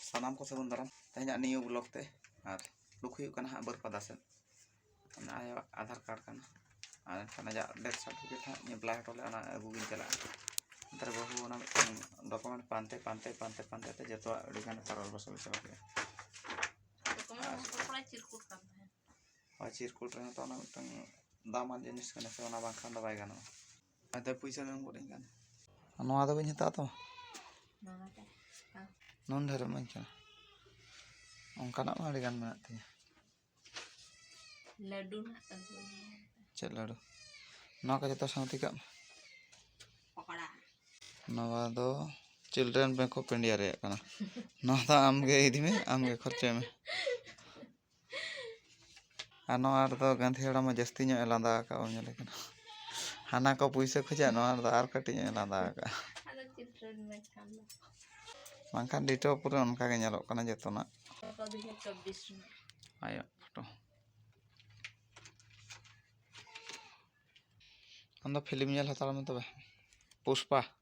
ᱥᱟᱱᱟᱢ ᱠᱚ ᱥᱟᱹᱜᱩᱱ ᱫᱟᱨᱟᱢ ᱛᱮᱦᱮᱧᱟᱜ ᱱᱤᱭᱩ ᱵᱞᱚᱜ ᱛᱮ ᱟᱨ ᱞᱩᱠ ᱦᱩᱭᱩᱜ ᱠᱟᱱᱟ ᱦᱟᱸᱜ ᱵᱟᱹᱨᱯᱟᱫᱟ ᱥᱮᱫ ᱚᱱᱟ ᱟᱭᱟᱜ ᱟᱫᱷᱟᱨ ᱠᱟᱨᱰ ᱠᱟᱱᱟ ᱟᱨ ᱮᱱᱠᱷᱟᱱ ᱟᱡᱟᱜ ᱰᱮᱛᱷ ᱥᱟᱨᱴᱤᱯᱷᱤᱠᱮᱴ ᱦᱟᱸᱜ ᱮᱯᱞᱟᱭ ᱦᱚᱴᱚ ᱞᱮᱫ ᱚᱱᱟ ᱟᱹᱜᱩ ᱜᱤᱧ ᱪᱟᱞᱟᱜᱼᱟ ᱱᱮᱛᱟᱨ ᱵᱟᱹᱦᱩ ᱚᱱᱟ ᱢᱤᱫᱴᱟᱝ ᱰᱚᱠᱩᱢᱮᱱᱴ ᱯᱟᱱᱛᱮ ᱯᱟᱱᱛᱮ ᱯᱟᱱᱛᱮ ᱯᱟᱱᱛᱮ ᱛᱮ ᱡᱚᱛᱚᱣᱟᱜ ᱟᱹᱰᱤ ᱜᱟᱱ ᱯᱟᱨᱚᱞ ᱵᱚᱥᱚᱞ ᱪᱟᱵᱟ ᱠᱮᱫᱟ ᱦᱳᱭ ᱪᱤᱨᱠᱩᱴ ᱨᱮᱦᱚᱸ ᱛᱚ ᱚᱱᱟ ᱢᱤᱫᱴᱟᱝ ᱫᱟᱢᱟᱱ ᱡᱤᱱᱤᱥ ᱠᱟᱱᱟ ᱥᱮ ᱚᱱᱟ ᱵᱟᱝᱠᱷᱟᱱ ᱫᱚ ᱵᱟᱭ ᱜᱟᱱᱚᱜᱼᱟ ᱟᱫᱚ ᱯᱚᱭᱥᱟ ᱫᱚᱢ ᱜᱚᱫ ᱟᱹᱧ ᱠᱟᱱ ᱱᱚᱣᱟ ᱫᱚ ᱵᱟᱹᱧ ᱦᱟᱛᱟᱣ ᱛᱟᱢᱟ ᱱᱩᱱ ᱰᱷᱮᱨ ᱤᱢᱟᱹᱧ ᱠᱟᱱᱟ ᱚᱱᱠᱟᱱᱟᱜ ᱢᱟ ᱟᱹᱰᱤᱜᱟᱱ ᱢᱮᱱᱟᱜ ᱛᱤᱧᱟᱹ ᱞᱟᱹᱰᱩ ᱪᱮᱫ ᱞᱟᱹᱰᱩ ᱱᱚᱣᱟ ᱠᱚ ᱡᱚᱛᱚ ᱥᱟᱶᱛᱮ ᱠᱟᱜ ᱢᱮ ᱱᱚᱣᱟ ᱫᱚ ᱪᱤᱞᱰᱨᱮᱱ ᱵᱮᱝᱠ ᱚᱯᱷ ᱤᱱᱰᱤᱭᱟ ᱨᱮᱭᱟᱜ ᱠᱟᱱᱟ ᱱᱚᱣᱟ ᱫᱚ ᱟᱢᱜᱮ ᱤᱫᱤ ᱢᱮ ᱟᱢᱜᱮ ᱠᱷᱚᱨᱪᱟᱭ ᱢᱮ ᱟᱨ ᱱᱚᱣᱟ ᱨᱮᱫᱚ ᱜᱟᱹᱫᱷᱤ ᱦᱟᱲᱟᱢ ᱦᱚᱸ ᱡᱟᱹᱥᱛᱤ ᱧᱚᱜ ᱮ ᱞᱟᱸᱫᱟ ᱟᱠᱟᱫ ᱵᱚᱱ ᱧᱮᱞᱮ ᱠᱟᱱᱟ ᱦᱟᱱᱟ ᱠᱚ ᱯᱩᱭᱥᱟᱹ ᱠᱷᱚᱡᱟ ᱱᱚᱣᱟ ᱨᱮᱫᱚ ᱟᱨ ᱠᱟᱹᱴᱤᱡ ᱧᱚᱜ ᱮ ᱞᱟᱸᱫᱟ ᱟᱠᱟᱫᱼᱟ ᱵᱟᱝᱠᱷᱟᱱ ᱰᱤᱴᱳ ᱯᱩᱨᱟᱹ ᱚᱱᱠᱟ ᱜᱮ ᱧᱮᱞᱚᱜ ᱠᱟᱱᱟ ᱡᱚᱛᱚᱱᱟᱜ ᱟᱭᱳ ᱯᱷᱳᱴᱳ ᱟᱢᱫᱚ ᱯᱷᱤᱞᱤᱢ ᱧᱮᱞ ᱦᱟᱛᱟᱲ ᱢᱮ ᱛᱚᱵᱮ ᱯᱩᱥᱯᱟ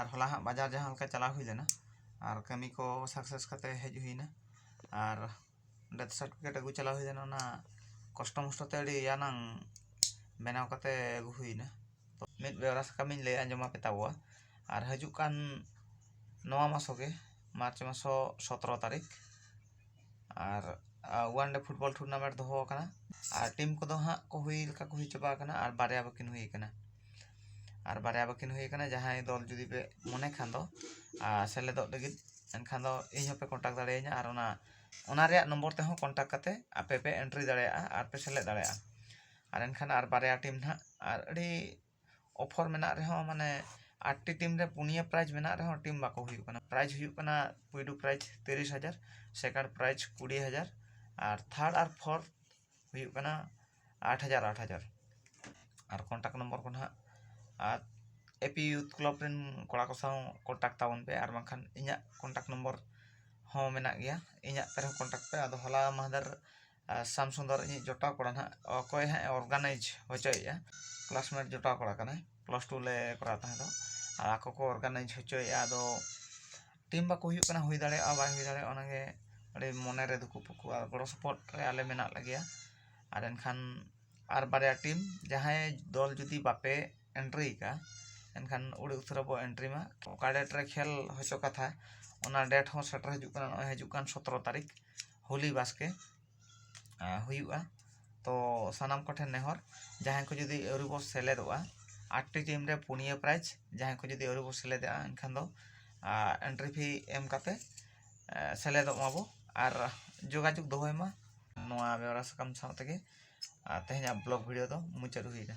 ᱟᱨ ᱦᱚᱞᱟ ᱦᱟᱸᱜ ᱵᱟᱡᱟᱨ ᱡᱟᱦᱟᱸ ᱞᱮᱠᱟ ᱪᱟᱞᱟᱣ ᱦᱩᱭ ᱞᱮᱱᱟ ᱟᱨ ᱠᱟᱹᱢᱤ ᱠᱚ ᱥᱟᱠᱥᱮᱥ ᱠᱟᱛᱮ ᱦᱮᱡ ᱦᱩᱭ ᱮᱱᱟ ᱟᱨ ᱰᱮᱛᱷ ᱥᱟᱨᱴᱤᱯᱷᱤᱠᱮᱴ ᱟᱹᱜᱩ ᱪᱟᱞᱟᱣ ᱦᱩᱭ ᱞᱮᱱᱟ ᱚᱱᱟ ᱠᱚᱥᱴᱚ ᱢᱚᱥᱴᱚ ᱛᱮ ᱟᱹᱰᱤ ᱤᱭᱟᱹ ᱱᱟᱝ ᱵᱮᱱᱟᱣ ᱠᱟᱛᱮ ᱟᱹᱜᱩ ᱦᱩᱭ ᱮᱱᱟ ᱢᱤᱫ ᱵᱮᱣᱨᱟ ᱥᱟᱠᱟᱢ ᱤᱧ ᱞᱟᱹᱭ ᱟᱸᱡᱚᱢ ᱟᱯᱮ ᱛᱟᱵᱚᱣᱟ ᱟᱨ ᱦᱤᱡᱩᱜ ᱠᱟᱱ ᱱᱚᱣᱟ ᱢᱟᱥᱚ ᱜᱮ ᱢᱟᱨᱪ ᱢᱟᱥᱚ ᱥᱚᱛᱨᱚ ᱛᱟᱹᱨᱤᱠᱷ ᱟᱨ ᱚᱣᱟᱱ ᱰᱮ ᱯᱷᱩᱴᱵᱚᱞ ᱴᱩᱨᱱᱟᱢᱮᱱᱴ ᱫᱚᱦᱚ ᱟᱠᱟᱱᱟ ᱟᱨ ᱴᱤᱢ ᱠᱚᱫᱚ ᱦᱟᱸᱜ ᱠᱚ ᱦᱩᱭ ᱞᱮᱠᱟ ᱠᱚ ᱦᱩᱭ ᱪᱟᱵᱟ ᱟᱠᱟᱱᱟ ᱟᱨ ᱵᱟᱨᱭᱟ ᱵᱟᱹᱠᱤᱱ ᱦᱩᱭ ᱟᱠᱟᱱᱟ ᱟᱨ ᱵᱟᱨᱭᱟ ᱵᱟᱹᱠᱤᱱ ᱦᱩᱭ ᱟᱠᱟᱱᱟ ᱡᱟᱦᱟᱸᱭ ᱫᱚᱞ ᱡᱩᱫᱤ ᱯᱮ ᱢᱚᱱᱮ ᱠᱷᱟᱱ ᱫᱚ ᱟᱨ ᱥᱮᱞᱮᱫᱚᱜ ᱞᱟᱹᱜᱤᱫ ᱮᱱᱠᱷᱟᱱ ᱫᱚ ᱤᱧ ᱦᱚᱸᱯᱮ ᱠᱚᱱᱴᱟᱠᱴ ᱫᱟᱲᱮᱭᱟᱹᱧᱟᱹ ᱟᱨ ᱚᱱᱟ ᱚᱱᱟ ᱨᱮᱭᱟᱜ ᱱᱚᱢᱵᱚᱨ ᱛᱮᱦᱚᱸ ᱠᱚᱱᱴᱟᱠᱴ ᱠᱟᱛᱮ ᱟᱯᱮ ᱯᱮ ᱮᱱᱴᱨᱤ ᱫᱟᱲᱮᱭᱟᱜᱼᱟ ᱟᱨ ᱯᱮ ᱥᱮᱞᱮᱫ ᱫᱟᱲᱮᱭᱟᱜᱼᱟ ᱟᱨ ᱮᱱᱠᱷᱟᱱ ᱟᱨ ᱵᱟᱨᱭᱟ ᱴᱤᱢ ᱦᱟᱸᱜ ᱟᱨ ᱟᱹᱰᱤ ᱚᱯᱷᱚᱨ ᱢᱮᱱᱟᱜ ᱨᱮᱦᱚᱸ ᱢᱟᱱᱮ ᱟᱴ ᱴᱤ ᱴᱤᱢ ᱨᱮ ᱯᱩᱱᱭᱟᱹ ᱯᱨᱟᱭᱤᱡᱽ ᱢᱮᱱᱟᱜ ᱨᱮᱦᱚᱸ ᱴᱤᱢ ᱵᱟᱠᱚ ᱦᱩᱭᱩᱜ ᱠᱟᱱᱟ ᱯᱨᱟᱭᱤᱡᱽ ᱦᱩᱭᱩᱜ ᱠᱟᱱᱟ ᱯᱩᱭᱞᱩ ᱯᱨᱟᱭᱤᱡᱽ ᱛᱤᱨᱤᱥ ᱦᱟᱡᱟᱨ ᱥᱮᱠᱮᱱᱰ ᱯᱨᱟᱭᱤᱡᱽ ᱠᱩᱲᱤ ᱦᱟᱡᱟᱨ ᱟᱨ ᱛᱷᱟᱨᱰ ᱟᱨ ᱯᱷᱳᱨᱛᱷ ᱦᱩᱭᱩᱜ ᱠᱟᱱᱟ ᱟᱴ ᱦᱟᱡᱟᱨ ᱟᱴ ᱦᱟᱡᱟᱨ ᱟᱨ ᱠᱚᱱᱴᱟᱠᱴ ᱱᱚᱢᱵᱚᱨ ᱠᱚ ᱱᱟᱦᱟᱜ ᱟᱨ ᱮ ᱯᱤ ᱤᱭᱩᱛᱷ ᱠᱞᱟᱵᱽ ᱨᱮᱱ ᱠᱚᱲᱟ ᱠᱚ ᱥᱟᱶ ᱠᱚᱱᱴᱟᱠᱴ ᱛᱟᱵᱚᱱ ᱯᱮ ᱟᱨ ᱵᱟᱝᱠᱷᱟᱱ ᱤᱧᱟᱹᱜ ᱠᱚᱱᱴᱟᱠᱴ ᱱᱚᱢᱵᱚᱨ ᱦᱚᱸ ᱢᱮᱱᱟᱜ ᱜᱮᱭᱟ ᱤᱧᱟᱹᱜ ᱛᱮᱦᱚᱸ ᱠᱚᱱᱴᱟᱠᱴ ᱯᱮ ᱟᱫᱚ ᱦᱚᱞᱟ ᱢᱟᱦᱫᱮᱨ ᱥᱟᱢ ᱥᱩᱱᱫᱚᱨ ᱤᱧᱤᱡ ᱡᱚᱴᱟᱣ ᱠᱚᱲᱟ ᱱᱟᱦᱟᱜ ᱚᱠᱚᱭ ᱦᱟᱸᱜ ᱮ ᱚᱨᱜᱟᱱᱟᱭᱤᱡᱽ ᱦᱚᱪᱚᱭᱮᱫᱼᱟ ᱠᱞᱟᱥᱢᱮᱴ ᱡᱚᱴᱟᱣ ᱠᱚᱲᱟ ᱠᱟᱱᱟᱭ ᱯᱞᱟᱥ ᱴᱩ ᱞᱮ ᱠᱚᱨᱟᱣ ᱛᱟᱦᱮᱸ ᱫᱚ ᱟᱨ ᱟᱠᱚ ᱠᱚ ᱚᱨᱜᱟᱱᱟᱭᱤᱡᱽ ᱦᱚᱪᱚᱭᱮᱫᱼᱟ ᱟᱫᱚ ᱴᱤᱢ ᱵᱟᱠᱚ ᱦᱩᱭᱩᱜ ᱠᱟᱱᱟ ᱦᱩᱭ ᱫᱟᱲᱮᱭᱟᱜᱼᱟ ᱵᱟᱭ ᱦᱩᱭ ᱫᱟᱲᱮᱭᱟᱜᱼᱟ ᱚᱱᱟ ᱜᱮ ᱟᱹᱰᱤ ᱢᱚᱱᱮ ᱨᱮ ᱫᱩᱠᱩ ᱯᱩᱠᱩ ᱟᱨ ᱜᱚᱲᱚ ᱥᱚᱯᱚᱦᱚᱫ ᱨᱮ ᱟᱞᱮ ᱢᱮᱱᱟᱜ ᱞᱮᱜᱮᱭᱟ ᱟᱨ ᱮᱱᱠᱷᱟᱱ ᱟᱨ ᱵᱟᱨᱭᱟ ᱴᱤᱢ ᱡᱟᱦᱟᱸᱭ ᱫᱚᱞ ᱡᱩᱫᱤ ᱵᱟᱯᱮ ᱮᱱᱴᱨᱤ ᱟᱠᱟᱫᱼᱟ ᱮᱱᱠᱷᱟᱱ ᱟᱹᱰᱤ ᱩᱥᱟᱹᱨᱟ ᱵᱚ ᱮᱱᱴᱨᱤ ᱢᱟ ᱚᱠᱟ ᱰᱮᱴ ᱨᱮ ᱠᱷᱮᱞ ᱦᱚᱪᱚ ᱠᱟᱛᱷᱟ ᱚᱱᱟ ᱰᱮᱴ ᱦᱚᱸ ᱥᱮᱴᱮᱨ ᱦᱤᱡᱩᱜ ᱠᱟᱱᱟ ᱱᱚᱜᱼᱚᱭ ᱦᱤᱡᱩᱜ ᱠᱟᱱ ᱥᱚᱛᱨᱚ ᱛᱟᱹᱨᱤᱠᱷ ᱦᱚᱞᱤ ᱵᱟᱥᱠᱮ ᱦᱩᱭᱩᱜᱼᱟ ᱛᱚ ᱥᱟᱱᱟᱢ ᱠᱚᱴᱷᱮᱱ ᱱᱮᱦᱚᱨ ᱡᱟᱦᱟᱸᱭ ᱠᱚ ᱡᱩᱫᱤ ᱟᱹᱣᱨᱤ ᱵᱚ ᱥᱮᱞᱮᱫᱚᱜᱼᱟ ᱟᱴᱴᱤ ᱴᱤᱢ ᱨᱮ ᱯᱩᱱᱭᱟᱹ ᱯᱨᱟᱭᱤᱡᱽ ᱡᱟᱦᱟᱸᱭ ᱠᱚ ᱡᱩᱫᱤ ᱟᱹᱣᱨᱤ ᱵᱚ ᱥᱮᱞᱮᱫᱚᱜᱼᱟ ᱮᱱᱠᱷᱟᱱ ᱫᱚ ᱮᱱᱴᱨᱤ ᱯᱷᱤ ᱮᱢ ᱠᱟᱛᱮ ᱥᱮᱞᱮᱫᱚᱜ ᱢᱟᱵᱚ ᱟᱨ ᱡᱳᱜᱟᱡᱳᱜᱽ ᱫᱚᱦᱚᱭ ᱢᱟ ᱱᱚᱣᱟ ᱵᱮᱣᱨᱟ ᱥᱟᱠᱟᱢ ᱥᱟᱶ ᱛᱮᱜᱮ ᱛᱮᱦᱮᱧᱟᱜ ᱵᱞᱚᱜᱽ ᱵᱷᱤᱰᱤᱭᱳ ᱫᱚ ᱢᱩᱪᱟᱹᱫ ᱦᱩᱭ ᱮᱱᱟ